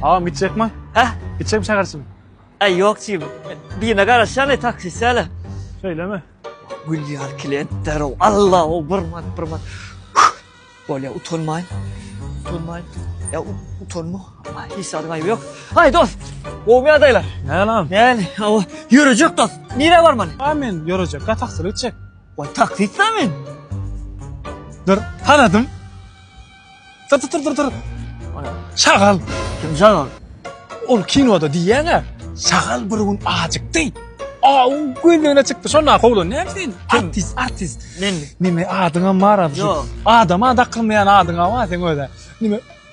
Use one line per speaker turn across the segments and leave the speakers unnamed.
Agam gitjek mi?
Hä? Gitjek mi şäherçim? Ä ýok çim.
Birine garaşýan e taksist älä. Şeýlemi?
Gülýär klient
derow. Allah o bir mat bir mat. Bolýa utanmaýyn. Utanmaýyn. Ä utanma. Hiç zat gaýby ýok. Haý dost. Gowmy ýagdaýlar? Näle agam? Näle?
Hawa.
Ýörejek dost. Nirä barmaly? Amin ýörejek. Gataksylyk
çek. Wah taksistmi
men?
Dur, tanadym. Dur, dur, dur, dur. Şagal. Kim şagal?
Ol kinoda
diýýäň-ä. Şagal bir gün ajykdy. Aw, gözüne çykdy. Şonda howlan näme sen? Artist, artist. Men nime adyňam bar adyň? Ýok. Adama
dakylmaýan
adyňam bar sen öde. Nime?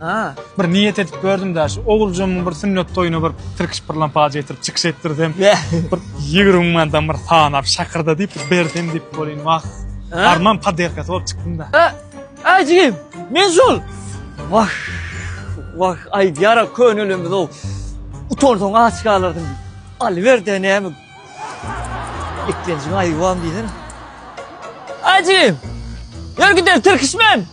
Haa. Bir niýet
edip gördüm
daşy. Oguljymyň bir sünnet toýuna bir tirkiş bir lampaja getirip çykyş etdirsem. Bir
ýigrimi
mandan bir sanap şakyrda diýip bir bersem diýip bolýn wah. Arman paderkasy bolup çykdym da. Haa. Aý jigim.
Men şol. Wah. Wah aýdýara könelemizoo. Utansaň aç galarsyň. Alyberde näme. Eklenjiň aýuwam diýsene. Aý jigim. Ýör gider tirkiş men.